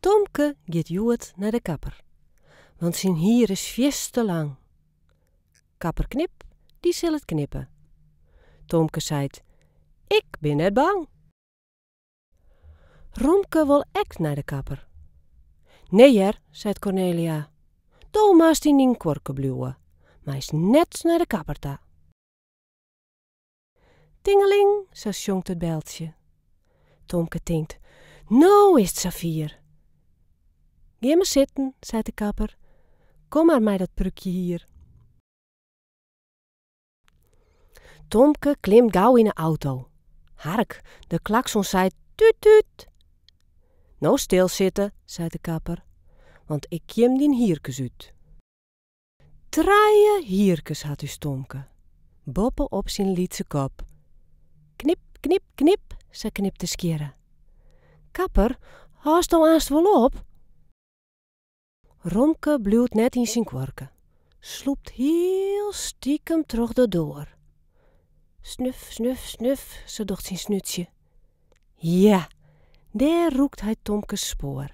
Tomke giet hjoed nei de kapper, want syn hier is fierst te lang. Kapper Knip dy sil it knippe. Tomke seit, Ik bin net bang! Romke wol ek nei de kapper. Nee hear, seit Cornelia, do moatst yn dyn kuorke bliuwe, meist net nei de kapper ta. Tingeling, sa sjonkt it beltsje. Tomke tinkt, no is 't safier! Gean mar sitten, seit de kapper, kom mar mei dat prúkje hier. Tomke klimt gau yn 'e auto. Hark, de klakson seit, tút tút! No stil sitte, seit de kapper, want ik kjim dyn hierkes út. Trije hierkes hat ús Tomke, boppe op syn lytse kop. Knip, knip, knip, sa knipt de skjirre. Kapper, hâldsto aanst wol op? Romke bliuwt net yn syn kuorke, slûpt hiel stikem troch de doar. Snuf, snuf, snuf, sa docht syn snútsje. Ja, dêr rûkt hy Tomkes spoar.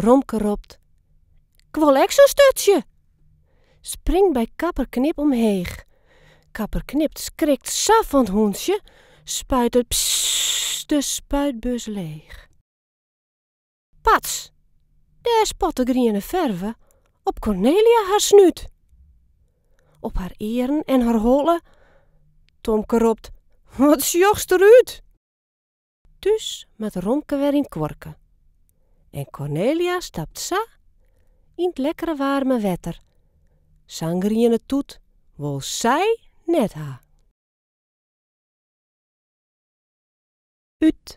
Romke ropt, 'k Wol ek sa'n sturtsje! Springt by Kapper Knip omheech. Kapper Knip skrikt sa fan 't hûntsje, spuitet pss de spuitbus leech. Pats! Dêr spot de griene ferve op Cornelia har snút. Op har earen en har holle. Tomke ropt, Wat sjochst der út! Thús moat Romke wer yn kuorke en Cornelia stapt sa yn 't lekkere waarme wetter. Sa'n griene toet wol sy net ha. Ut.